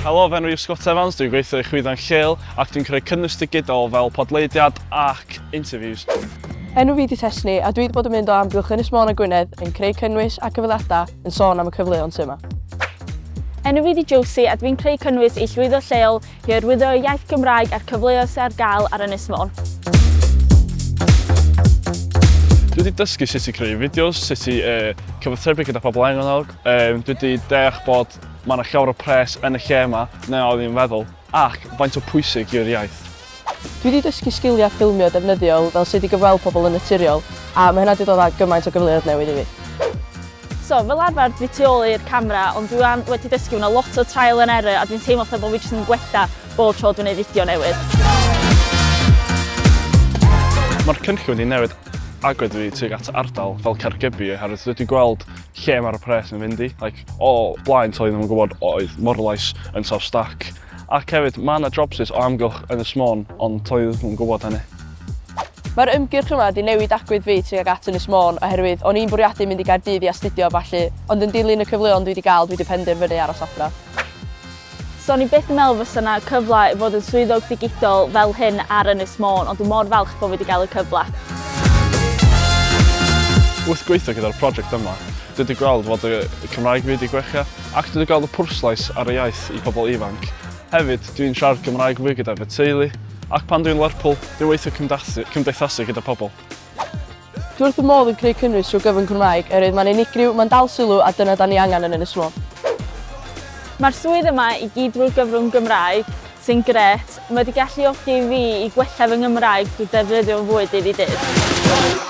Helo, fy enw i yw Scott Evans, dwi'n gweithio i Chwyddan Lleol ac dwi'n creu cynnwys digidol fel podleidiad ac interviews. Enw fi di Tesni a dwi wedi bod yn mynd o amgylch Ynys Môn a Gwynedd yn creu cynnwys a cyfweliadau yn sôn am y cyfleon sy'n yma. Enw fi di Josie a dwi'n creu cynnwys i llwyddo lleol i hyrwyddo y iaith Gymraeg a'r cyfleoedd sy'n ar gael ar Ynys Môn. Dwi wedi dysgu sut i creu fideos, sut i uh, cyfathrebu gyda pobl angennog, Yym, dwi 'di deall bod mae 'na llawer o pres yn y lle yma na oedd i'n feddwl, ac faint o pwysig yw'r iaith? Dwi 'di dysgu sgiliau ffilmio defnyddiol fel sut i gyfweld pobl yn naturiol, a mae hynna 'di dod â gymaint o gyfleoedd newydd i fi. So, fel arfer dwi tu ôl i'r camera, ond dwi 'wan wedi dysgu, mae 'na lot o trial and error a dwi'n teimlo fatha bod fi jyst yn gwella bob tro dwi'n neud fideo newydd. Mae'r cynllun 'di newid agwedd fi tuag at ardal fel Caergybi oherwydd dwi 'di gweld lle mae'r pres yn fynd i, like, o blaen t'o' oedden nhw'n gwybod oedd Morlais yn South Stack ac hefyd ma' 'na jobsus o amgylch Ynys Môn ond t'o' oedden nhw'm yn gwybod hynny. Mae'r ymgyrch yma 'di newid agwedd fi tuag at Ynys Môn oherwydd o'n i'n bwriadu mynd i Gaerdydd i astudio a ballu ond yn dilyn y cyfleon dwi 'di gael dwi 'di penderfynu aros adra. So o'n i byth yn meddwl fysa 'na cyfle i fod yn swyddog digidol fel hyn ar Ynys Môn, ond dwi mor falch bod fi wedi cael y cyfle. Wrth gweithio gyda'r prosiect yma, dwi wedi gweld fod y Cymraeg fi wedi gwella ac dwi wedi gweld y pwrslais ar y iaith i pobl ifanc. Hefyd, dwi'n siarad Cymraeg fwy gyda fy teulu ac pan dwi'n Lerpwl, dwi'n weithio cymdeithasu gyda pobl. Dwi wrth fy modd yn creu cynnwys trwy gyfrwng Cymraeg oherwydd mae'n unigryw, mae'n dal sylw a dyna dan ni angen yn Ynys Môn. Mae'r swydd yma i gyd drwy'r gyfrwng Gymraeg, sy'n grêt, mae wedi galluogi i fi i gwella fy Nghymraeg drwy ddefnyddio fo'n fwy dydd i ddydd.